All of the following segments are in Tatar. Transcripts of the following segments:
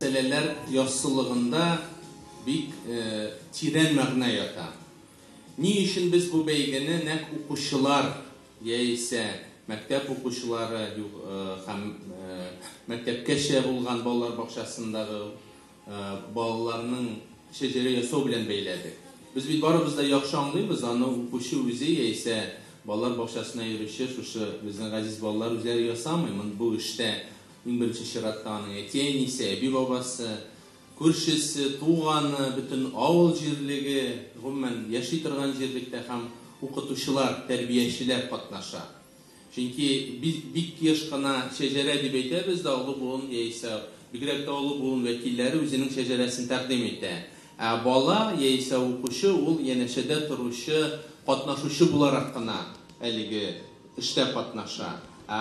Мәсьәләләр яссылыгында бик тирән мәгънә ята. Ни өчен без бу бәйгене нәкъ укучылар яисә мәктәп укучылары һәм мәктәпкәчә булган балалар бакчасындагы балаларның шәҗәрә ясау белән бәйләдек? Без бит барыбыз да яхшы аңлыйбыз, аны укучы үзе яисә балалар бакчасына йөрүче шушы безнең газиз балалар үзләре ясамый, бу эштә Иң беренче чиратта аның әти-әнисе, әби-бабасы, күршесе, туганы, бөтен авыл җирлеге, гомумән, яши торган җирлектә һәм укытучылар, тәрбиячеләр катнаша. Чөнки бик еш кына шәҗәрә дип әйтәбез дә, олы буын яисә бигрәк тә олы буын вәкилләре үзенең шәҗәрәсен тәкъдим итә. Ә бала яисә укучы ул янәшәдә торучы, катнашучы буларак кына әлеге Эштә катнаша. Ә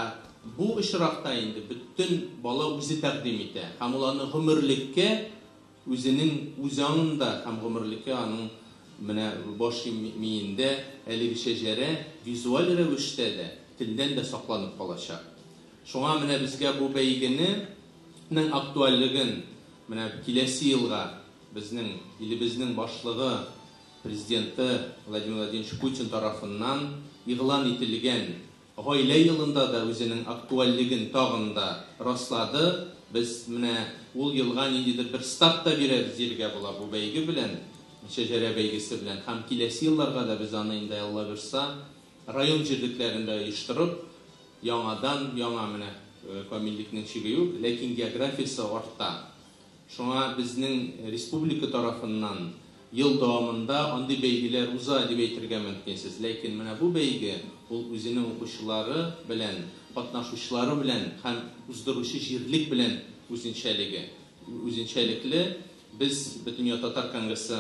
бу очракта инде бөтен бала үзе тәкъдим итә һәм ул аны гомерлеккә үзенең үз аңында һәм гомерлеккә аның менә баш миендә әлеге шәҗәрә визуаль рәвештә дә, телдән дә сакланып калачак. Шуңа менә безгә бу бәйгене нең актуальлеген менә киләсе елга безнең илебезнең башлыгы Президенты Владимир Владимирович Путин тарафыннан игълан ителгән Гаилә елында да үзенең актуальлеген тагын да раслады. Без менә ул елга ниндидер бер старт та бирәбез дияргә була бу бәйге белән, Шәҗәрә бәйгесе белән һәм киләсе елларга да без аны инде, Алла боерса, район җирлекләрендә оештырып, яңадан-яңа менә камиллекнең чиге юк, ләкин географиясе арта. Шуңа безнең республика тарафыннан ел дәвамында андый бәйгеләр уза, дип әйтергә мөмкинсез. Ләкин менә бу бәйге, ул үзенең укучылары белән, катнашучылары белән һәм уздыручы җирлек белән үзенчәлеге, үзенчәлекле. Без Бөтендөнья татар конгрессы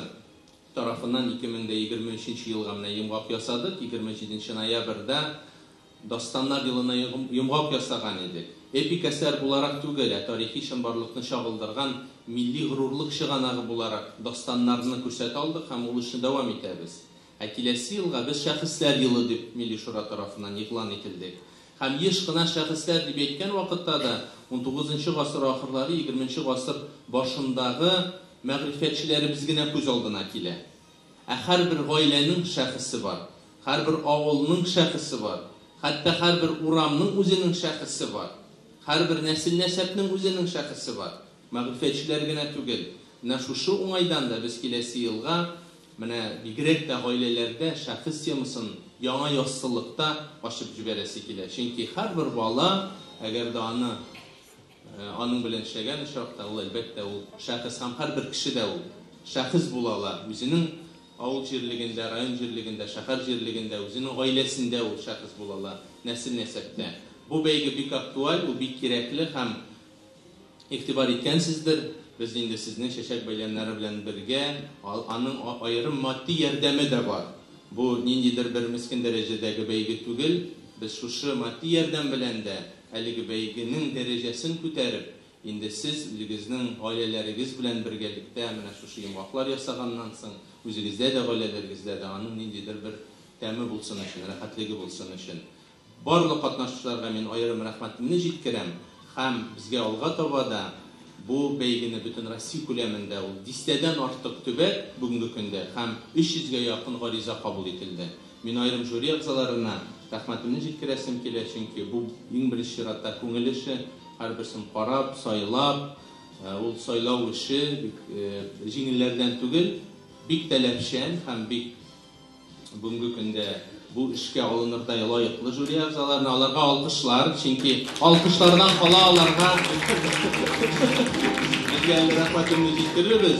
тарафыннан 2023 елга менә йомгак ясадык, 27 ноябрьдә Дастаннар елына йомгак ясаган идек. Эпик әсәр буларак түгел, ә тарихи чынбарлыкны чагылдырган милли горурлык чыганагы буларак дастаннарны күрсәтә алдык һәм ул эшне дәвам итәбез. Ә киләсе елга без Шәхесләр елы дип Милли Шура тарафыннан игълан ителдек. Һәм еш кына шәхесләр дип әйткән вакытта да унтугызынчы гасыр ахырлары-егерменче гасыр башындагы мәгърифәтчеләребез генә күз алдына килә. Ә һәрбер гаиләнең шәхесе бар, һәрбер авылның шәхесе бар, хәтта һәрбер урамның үзенең шәхесе бар, һәрбер нәсел-нәсәпнең үзенең шәхесе бар. Мәгърифәтчеләр генә түгел. Менә шушы уңайдан да без киләсе елга менә бигрәк тә гаиләләрдә шәхес темасын яңа яссылыкта ачып җибәрәсе килә. Чөнки һәрбер бала, әгәр дә аны. Аның белән эшләгән очракта, ул, әлбәттә, ул шәхес һәм һәрбер кеше дә ул шәхес була ала. Үзенең авыл җирлегендә, район җирлегендә, шәһәр җирлегендә, үзенең гаиләсендә ул шәхес була ала, нәсел-нәсәптә. Бу бәйге бик актуаль, ул бик кирәкле һәм игътибар иткәнсездер. Без инде сезне чәчәк бәйләмнәре белән бергә, аның аерым матди ярдәме дә бар. Бу ниндидер бер мескен дәрәҗәдәге бәйге түгел. Без шушы матди ярдәм белән дә, Әлеге бәйгенең дәрәҗәсен күтәреп, инде сез үзегезнең гаиләләрегез белән бергәлектә менә шушы йомгаклар ясаганнан соң, үзегездә дә, гаиләләрегездә дә аның ниндидер бер тәме булсын өчен, рәхәтлеге булсын өчен. Барлык катнашучыларга мин аерым рәхмәтемне җиткерәм һәм безгә алга таба да бу бәйгене бөтен Россия күләмендә, ул дистәдән артык төбәк бүгенге көндә һәм 300 гә якын гариза кабул ителде, Мин аерым жюри әгъзаларына рәхмәтемне җиткерәсем килә, чөнки бу, иң беренче чиратта, күңел эше. Һәрберсен карап, сайлап, ул сайлау эше бик җиңелләрдән түгел, бик таләпчән һәм бик бүгенге көндә бу эшкә алынырдай лаеклы жюри әгъзаларына. Аларга алкышлар, чөнки алкышлардан кала аларга безгә әле рәхмәтемне җиткерербез.